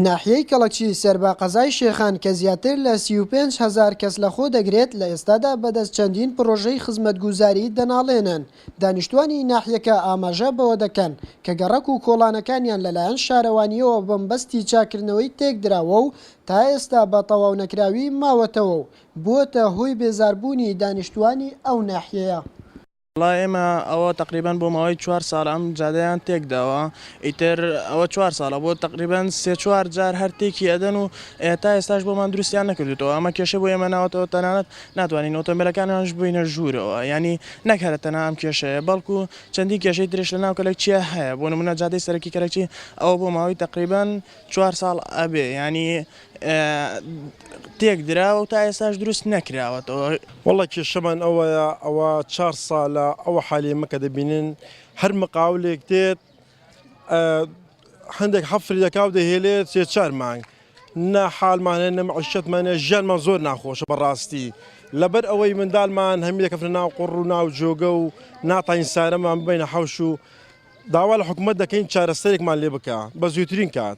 ناحیەی کەڵەکی سەر بە قەزای شێخان کە زیاتر لە سی و پێنج هەزار کەس لەخۆ دەگرێت، لە ئێستادا بەدەست چەندین پڕۆژەی خزمەتگوزاری دەناڵێنن، دانیشتوانی ناحیەکە ئاماژە بەوە دەکەن کە گەڕەک و کۆڵانەکانیان لەلایەن شارەوانییەوە بەمبەستی چاککردنەوەی تێکدراوە و تا ئێستا بە تەواونەکراوی ماوەتەوە و بووەتە هۆی بێزاربوونی دانیشتوانی ئەو ناحیەیە. وەڵا ئێمە ئەوە تەقریبەن بۆ ماوەی چوار ساڵە ئەم جادەیان تێک داوە ئیتر ئەوە چوار ساڵە بۆ تەقریبەن سێ چوار جار هەر تێکی ئەدەن و ئێتا ئێستاش بۆمان دروستیان نەکردوتەوە ئەمە کێشەی بۆ ئێمە ناوەتەوە تەنانەت ناتوانین ئۆتۆمبیلەکانیانش ببەینە ژوورەوە یانی نەک هەرە تەنها ئەم کێشەیە بەڵکو چەندین کێشەی تریش لەناو کەلەکچیە هەیە بۆ نمونە جادەی سەرەکی کەلەکی ئەوە بۆ ماوەی تەقریبەن چوار ساڵ ئەبێ یانی تێک دراوە و تا ئێستاش دروست نەکراوەتەوە. وەڵا کێشەمان ئەوەیە ئەوە چار سالە ئەوە حالی مەکە دەبینن هەر مقاولێک دێت هەندێک حەفری دەکاو دەهێلێت سێ چار مانگ نە حالمانە نە معیشەتمانە ژیانمان زۆر ناخۆشە بەڕاستی لەبەر ئەوەی مندالمان هەمی دەکەفرە ناو قڕ و ناو جۆگە و ناتاین سارەمان ببینە حەوش و داوا لە حکومت دەکەین چارەسەرێکمان لێ بکە بە زووترین کات.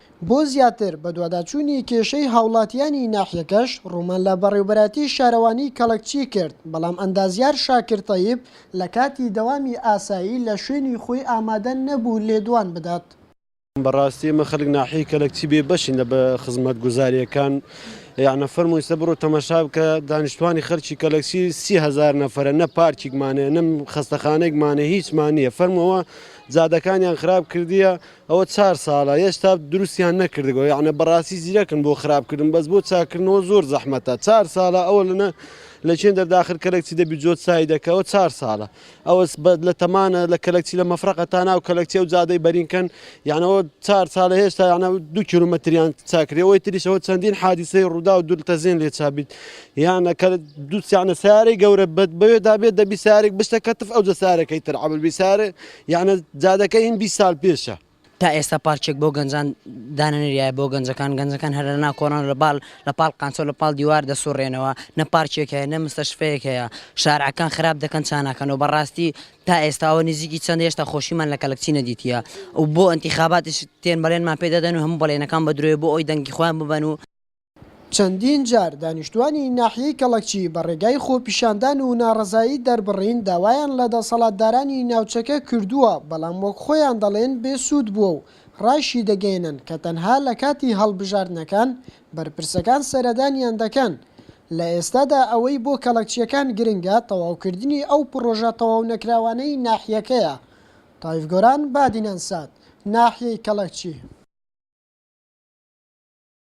بۆ زیاتر بەدواداچوونی کێشەی هاوڵاتیانی ناحیەکەش ڕوومان لە بەڕێوبەرایەتی شارەوانی کەڵەکچی کرد، بەڵام ئەندازیار شاکر تەیب لە کاتی دەوامی ئاسایی لە شوێنی خۆی ئامادە نەبوو لێدوان بدات. بەڕاستی ئێمە خەلک ناحیەی کەلەکچی بێ بەشین لە خزمەتگوزاریەکان یانە فەرموو ئیستە بڕۆ تەمەشا بکە دانیشتوانی خەلکی کەلەکچی سی هەزار نەفەرە نە پارکیکمان هەیە نە خەستەخانەیکمان هەیە هیچمان نیە فەرموو ئەوە جادەکانیان خراپ کردیە ئەوە چار سالە هێشتا دروستیان نەکردگەوە یاعنە بەڕاستی زیرەکن بۆ خراپکردن بەس بۆ چاکردنەوە زۆر زەحمەتە چار سالە ئەوە لەنە لە چێن دەرداخر کەلەکچی دەبی جۆت سای دەکەەوە چار سالە ئەوەس بەد لە تەمانە لە کەلەکچی لە مەفرەقە تا ناو کەلەکچێ و جادەی بەرینکەن یانەوە چار سالە هێشتا یانە دو کیلومەتریان چاکرەوەی تریشەوە چەندین حادیسەی ڕوودا و دولتە زێن لێ چابیت یانە کە دووسیانە سارەی گەورە بەد بەوێ دابێت دەبی سارێک بشتە کەتف ئەو جە سارەکەی تر عمل بی سارێ یەعنە جادەکە هین بیست سال پێشە. تا ئێستا پارکێک بۆ گەنجان دانەنریایە بۆ گەنجەکان گەنجەکان هەر لەنا کۆڵان لە باڵ لە پاڵ قانچۆ لە پاڵ دیوار دەسوڕێنەوە نە پارکێک هەیە نە مستەشفەیەک هەیە شارعەکان خراپ دەکەن چاناکەن و بەڕاستی تا ئێستاوە نزیکی چەند هێشتا خۆشیمان لە کەلکچی نەدیتە و بۆ ئەنتیخاباتش تێن بەڵێنمان پێدەدەن و هەم بەڵێنەکان بە درۆێ بۆ ئەوی دەنگی خۆیان ببەن و چەندین جار دانیشتووانی ناحیەی کەڵەکچی بە ڕێگای خۆپیشاندان و ناڕەزایی دەربڕین داوایان لە دەسەڵاتدارانی ناوچەکە کردووە، بەڵام وەک خۆیان دەڵێن بێ سوود بووە و ڕایشیدەگەیەنن کە تەنها لە کاتی هەڵبژاردنەکان بەرپرسەکان سەردانیان دەکەن، لە ئێستادا ئەوەی بۆ کەڵەکچییەکان گرنگە تەواوکردنی ئەو پڕۆژە تەواونەکراوانەی ناحیەکەیە. تایف گۆران، بادینان سات، ناحیەی کەڵەکچی.